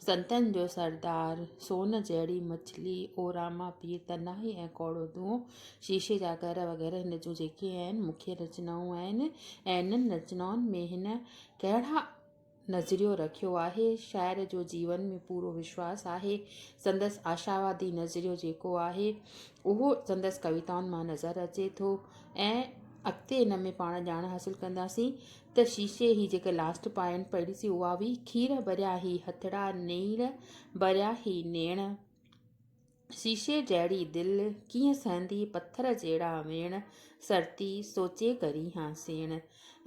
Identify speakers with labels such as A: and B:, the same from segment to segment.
A: سنتن جو سردار، سون جهڙي مڇلي، او راما پير تنهائي ۽ ڪوڙو دونهون، شيشي جا گهر وغيره هن جون جيڪي اهن مکيه رچنائون آهن ۽ انهن رچنائن ۾ هن ڪهڙا نظريو رکيو آهي، شاعر جو جيون ۾ پورو وشواس آهي، سندس آشاوادي نظريو جيڪو آهي اهو سندس ڪويتائن مان نظر اچي ٿو ۽ اڳتي ان ۾ پاڻ ڄاڻ حاصل ڪنداسين. ته شيشي هي جيڪي لاسٽ پائين پڙهي سي اها هئي کير ڀريا هي هٿڙا نيڻ ڀريا هي نيڻ شيشي جهڙي دل ڪيئن سهندي پٿر جهڙا ويڻ سرتي سوچي ڪرين ها سيڻ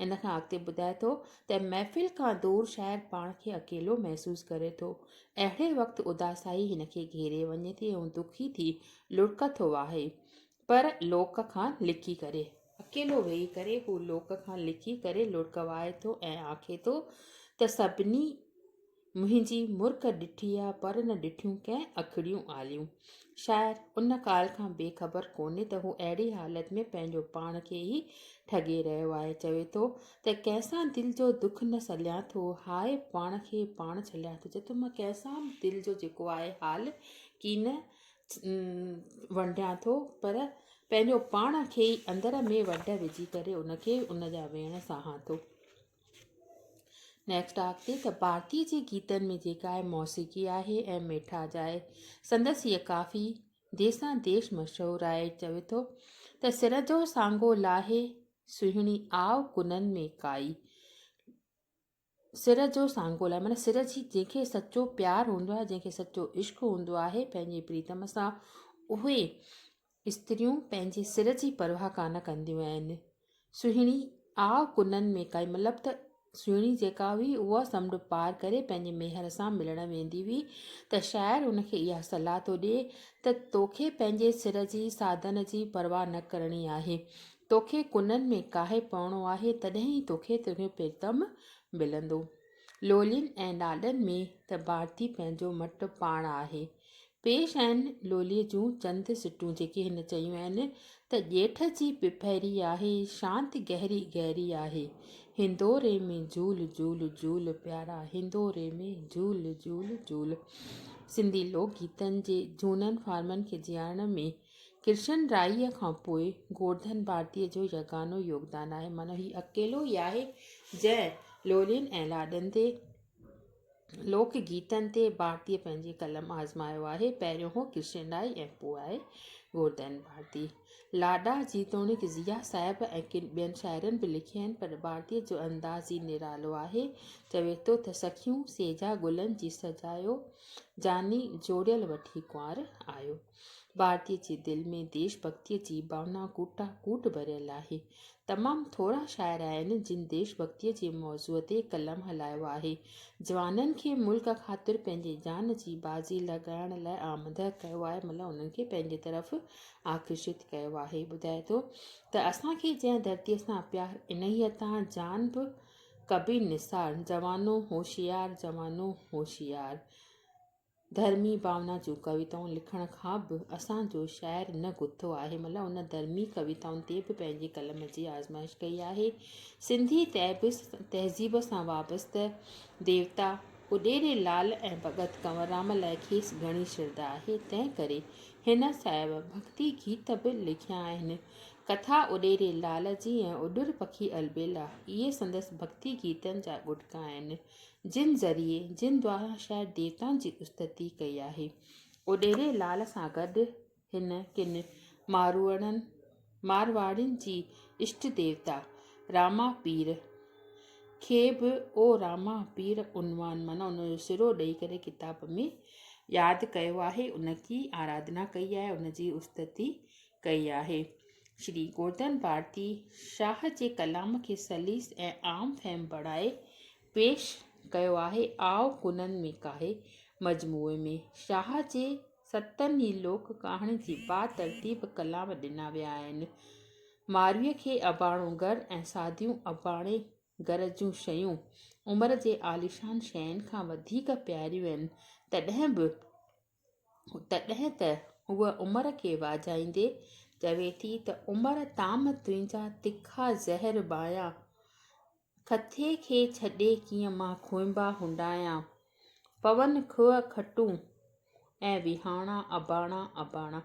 A: ان کان اڳتي ٻڌائي ٿو ته محفل کان دور شاعر پاڻ کي اڪيلو محسوس ڪري ٿو اهڙي وقت اداسائي هن کي گهيري وڃي ٿي ۽ دکي ٿي لڙڪ ٿو واهي پر لوڪ کان لڪي ڪري. اڪيلو ويهي ڪري هو لوڪ کان لڪي ڪري لڙڪ وهائي ٿو ۽ آکي ٿو ته سڀني منهنجي مرڪ ڏٺي آ پر نه ڏٺيون ڪنهن اکڙيون آليون. شاعر ان ڳالهه کان بي خبر ڪونهي ته هو اهڙي حالت ۾ پنهنجو پاڻ کي ئي ٺڳي رهيو آهي. چوي ٿو ته ڪنهن سان دل جو دک نه سليان ٿو هاء پاڻ کي پاڻ ڇليان ٿو. چوي ٿو مان ڪنهن سان به دل جو جيڪو آهي حال ڪين ونڊيان ٿو پر پنهنجو پاڻ کي ئي اندر ۾ وڍ وجهي ڪري ان کي ان جا ويڻ سهان ٿو نيڪسٽ آ ڪي ته بارتي جي گيتن ۾ جيڪا آهي موسيقي آهي ۽ ميٺا جاء سندس هيء ڪافي ديسان ديش مشهور آهي چوي ٿو ته سر جو سانگو لاهي سهڻي آء ڪنن ۾ ڪائي سر جو سانگو لاء معنيٰ سر جي جنهن کي سچو پيار هوندو آهي جنهن کي سچو عشق هوندو آهي پنهنجي پريتم سان اهي استريون پنهنجي سر جي پرواهه ڪانه ڪنديون آهن سهڻي آء ڪنن ۾ ڪائي مطلب ته سهڻي جيڪا هئي اها سمنڊ پار ڪري پنهنجي ميهر سان ملڻ ويندي هئي ته شاعر ان کي اها صلاح ٿو ڏي ته توکي پنهنجي سر جي ساڌن جي پرواهه نه ڪرڻي آهي توکي ڪنن ۾ ڪاهي پوڻو آهي، تڏهن ئي توکي تنهنجو پريتم ملندو. لولين ۽ لاڏن ۾ ته ڀارتي پنهنجو مٽ پاڻ آهي. پيش آهن لوليء جون چند سٽون جيڪي هن چيون آهن ته ڄيٺ جي پڦيري آهي، شانت گهري گهري آهي، هندوري ۾ جهول جهول جهول پيارا، هندوري ۾ جهول جهول جهول. سنڌي لوڪ گيتن جي جهونن فارمن کي جيارڻ ۾ ڪرشن رائيء کان پوء گورڌن ڀارتيء جو يگانو يوگدان آهي. معنيٰ هي اڪيلو ئي آهي، جنهن لولين ۽ لاڏن تي، لوڪ گيتن تي، ڀارتيء پنهنجي قلم آزمايو آهي. پهريون هو ڪرشن رائي ۽ پوء آهي گورڌن ڀارتي. لاڏا جيتوڻيڪ ضيا صاحب ۽ ڪن ٻين شاعرن به لکيا آهن، پر ڀارتيء جو انداز ئي نرالو آهي. چوي ٿو ته سخيون سيجا گلن جي سجايو، جاني جوڙيل وٺي ڪنوار آيو. ڀارتي جي دل ۾ ديش ڀڳتيء جي ڀاونا ڪوٽان ڪوٽ ڀريل آهي. تمام ٿورا شاعر آهن، جن ديش ڀڳتيء جي موضوع تي قلم هلايو آهي. جوانن کي ملڪ خاطر پنهنجي جان جي بازي لڳائڻ لاء آمده ڪيو آهي مطلب انهن کي پنهنجي طرف آڪرشت ڪيو آهي. ٻڌائي ٿو ته اسان کي جنهن ڌرتيء سان پيار انهيء تان جان به ڪبي نثار، جوانو هوشيار، جوانو هوشيار. ڌرمي ڀاونا جون ڪويتائون لکڻ کان به اسان جو شاعر نه گٿو آهي ملهه ان ڌرمي ڪويتائن تي به پنهنجي قلم جي آزمائش ڪئي آهي سنڌي تهذيب سان وابسته ديوتا اڏيري لال ۽ ڀڳت ڪنوررام لاء کيس گهڻي شرڌا آهي تنهن ڪري هن صاحب ڀڳتي گيت به لکيا آهن ڪٿا اڏيري لال جي ۽ اڏر پکي البيلا اهي سندس ڀڳتي گيتن جا ڳٽڪا آهن جن ذريعي جن دواران شايد ديوتائن جي استتي ڪئي آهي. اوڏيري لال سان گڏ هن ڪن ماروئڙن، مارواڙين جي اشٽ ديوتا راما پير کي به او راما پير عنوان معنيٰ ان جو سرو ڏئي ڪري ڪتاب ۾ ياد ڪيو آهي، ان جي آراڌنا ڪئي آهي، ان جي استتي ڪئي آهي. شري گوردن ڀارتي شاهه جي ڪلام کي سليس ۽ عام فهم بڻائي پيش ڪيو آهي. آء گنن ۾ ڪاهي مجموعي ۾ شاهه جي ستن ئي لوڪ ڪهاڻين جي با ترتيب ڪلام ڏنا ويا آهن. مارويء کي اباڻو گهر ۽ ساديون اباڻي گهر جون شيون عمر جي عاليشان شين کان وڌيڪ پياريون آهن، تڏهن به تڏهن ته هوء عمر کي واجهائيندي چوي ٿي ته عمر طعام تنهنجا تکا زهر ٻايان، کٿي کي ڇڏي ڪيئن مان کونبا هنڊايان، پون کوهه کٽون ۽ وهاڻا اباڻا اباڻا.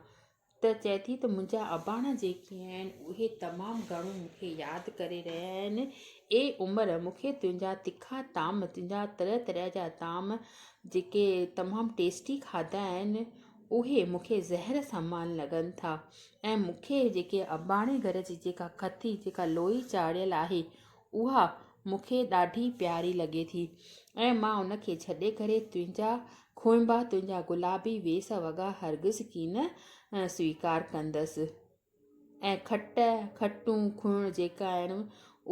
A: ته چئي ٿي ته منهنجا اباڻا جيڪي آهن، اهي تمام گهڻو مون کي ياد ڪري رهيا آهن. اي عمر! مون کي تنهنجا تکا طعام، تنهنجا طرح طرح جا طعام جيڪي تمام ٽيسٽي کاڌا آهن، اهي مون کي زهر سمان لڳن ٿا ۽ مون کي جيڪي اباڻي گهر جي جيڪا کٿي، جيڪا لوئي چاڙهيل آهي، اها مون کي ڏاڍي پياري لڳي ٿي ۽ مان ان کي ڇڏي ڪري تنهنجا کونبا، تنهنجا گلابي ويس وڳا هرگز ڪين سويڪار ڪندس ۽ کٽ، کٽون، کڻ جيڪي آهن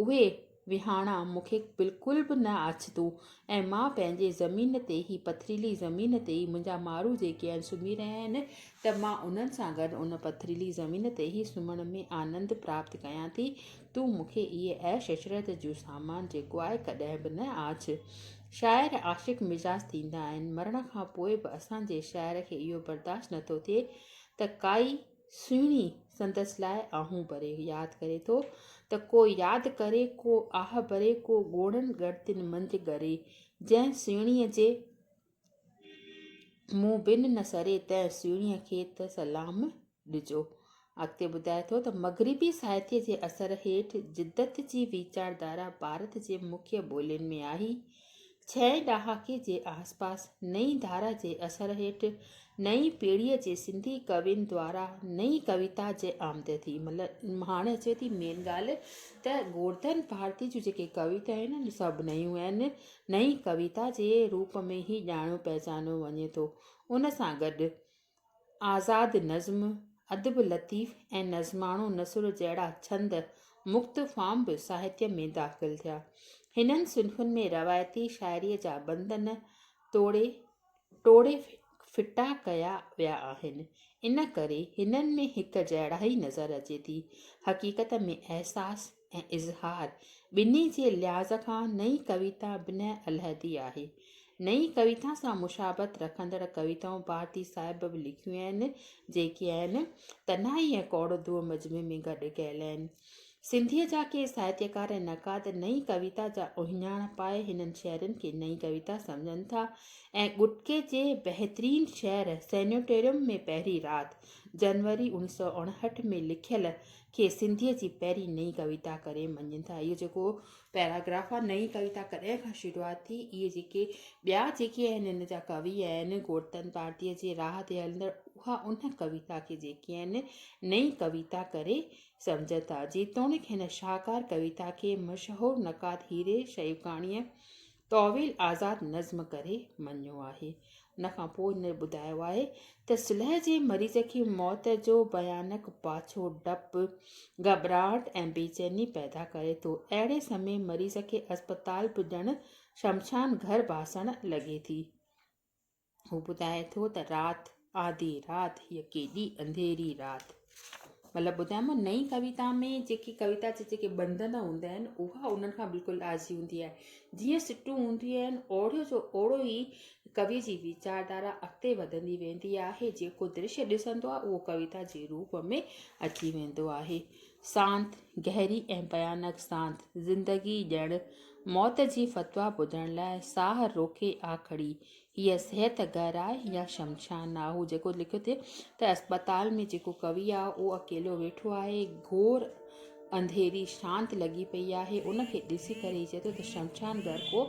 A: اهي وهاڻا مون کي بلڪل به نه آڇتون ۽ مان پنهنجي زمين تي هي پٿريلي زمين تي ئي منهنجا مارو جيڪي آهن سمهي رهيا آهن ته مان انهن سان گڏ ان پٿريلي زمين تي ئي سمهڻ ۾ آنند پراپت ڪيان ٿي. تون مون کي اهي عيش عشرت جون سامان جيڪو آء ڪڏهن به نه آڇ. شاعر عاشق مزاج ٿيندا آهن، مرڻ کان پوء به اسان جي شاعر کي اهو برداشت نه ٿو ٿئي ته ڪائي سهڻي سندس لاء آهون ڀري ياد ڪري ٿو ته ڪو ياد ڪري ڪو آهه ڀري ڪو ڳوڙهن ڳڻتين منجهه ڳري جنهن سهڻيء جي مون بن نه سري تنهن سهڻيء کي ته سلام ڏجو. اڳتي ٻڌائي ٿو ته مغربي ساهتيه جي اثر هيٺ جدت جي ويچاردارا ڀارت جي مکيه ٻولين ۾ آئي. ڇهين ڏهاڪي جي آسپاس نئين ڌارا جي اثر هيٺ نئين پيڙهيء جي سنڌي ڪوين دوارا نئين ڪويتا جي آمد ٿي. مطلب هاڻي اچي ٿي مين ڳالهه ته گورڌن ڀارتي جون جيڪي ڪويتائون آهن سڀ نيون آهن. نئين ڪويتا جي روپ ۾ هي ڄاڻيو پهچانيو وڃي ٿو. ان سان گڏ آزاد نظم، ادب لطيف ۽ نظماڻو نثر جهڙا ڇند مڪت فارم به ساهتيه ۾ داخل ٿيا. هنن صنفن ۾ روايتي شاعريء جا بندن ٽوڙي، ٽوڙي ڦٽا ڪيا ويا آهن، ان ڪري هنن ۾ هڪ جهڙائي نظر اچي ٿي. حقيقت ۾ احساس ۽ اظهار ٻنهي جي لحاظ کان نئين ڪويتا بنهه علحدي آهي. نئين ڪويتا سان مشابهت رکندڙ ڪويتائون ڀارتي صاحب به لکيون آهن، جيڪي آهن، تنهائي ۽ ڪوڙ دو مجمع ۾ گڏ ڪيل آهن. سنڌيء جا ڪي ساهتيڪار ۽ نقاد نئين ڪويتا جا اهڃاڻ پائي هنن شعرن کي نئين ڪويتا سمجهن ٿا ۽ ڳٽڪي جي بهترين شعر سينيٽوريم ۾ پهرين رات، جنوري اوڻيھ سؤ اڻهٺ، ۾ لکيل کي سنڌيء جي پهرين نئين ڪويتا ڪري مڃين ٿا. اهو جيڪو پيراگراف آهي، نئين ڪويتا ڪڏهن کان شروعات ٿي، اهي جيڪي ٻيا جيڪي آهن هن جا ڪوي آهن، گورتن پارٽيء جي راهه تي هلندڙ اها ان ڪويتا کي جيڪي آهن نئين ڪويتا ڪري سمجهن ٿا. جيتوڻيڪ هن شاهڪار ڪويتا کي مشهور نقاد هيري شيوڪاڻيء طويل آزاد نظم ڪري مڃيو آهي. ان کان پوء هن ٻڌايو آهي ته صلح جي مريض کي موت جو ڀيانڪ پاڇو ڊپ، گهٻراهٽ ۽ بيچيني پيدا ڪري ٿو. اهڙي سمي مريض کي اسپتال به ڄڻ شمشان گهر ڀاسڻ لڳي ٿي. هو ٻڌائي ٿو ته رات، آڌي رات، هيء ڪيڏي انڌيري رات. مطلب ٻڌايم نه نئين ڪويتا ۾ جيڪي ڪويتا جا جيڪي بندن هوندا آهن اها انهن کان بلڪل آجي هوندي آهي جيئن سٽون هونديون آهن اوڙيو جو اوڙو ئي ڪوي جي ويچار ڌارا اڳتي وڌندي ويندي آهي جيڪو درشي ڏسندو آهي اهو ڪويتا جي روپ ۾ اچي ويندو آهي سانت گهري ۽ بيانڪ سانت زندگي ڄڻ موت جي فتويٰ ٻڌڻ لاء ساهه روڪي آ کڙي هيء صحت گهر آهي يا شمشان آهي. هو جيڪو لکيو ٿي ته اسپتال ۾ جيڪو ڪوي آهي، اهو اڪيلو ويٺو آهي. گهور انڌيري شانت لڳي پئي آهي. ان کي ڏسي ڪري هي چئي ٿو ته شمشان گهر ڪو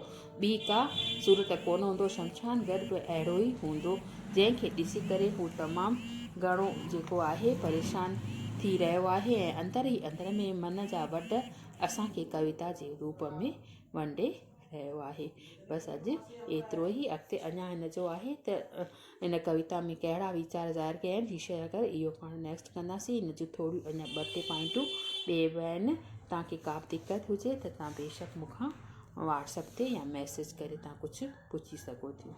A: ٻي ڪا صورت ڪونه هوندو. شمشان گهر به اهڙو ئي هوندو. جنهن کي ڏسي ڪري هو تمام گهڻو جيڪو آهي پريشان ٿي رهيو آهي ۽ اندر ئي اندر ۾ من جا وڍ اسان کي ڪويتا جي روپ ۾ ونڊي رهيو آهي. بس اڄ ايترو ئي اڳتي اڃا هن جو آهي ته ان ڪويتا ۾ ڪهڙا ويچار ظاهر ڪيا آهن جي شيئر ڪيو اهو پاڻ نيڪسٽ ڪنداسين هن جون ٿوريون اڃا ٻه ٽي پوائنٽون ٻيئي به آهن تان کي ڪا به دقت هجي ته تان بيشڪ مون کان واٽس اپ تي يا ميسيج ڪري تان ڪجهه پڇي سگهو ٿيون.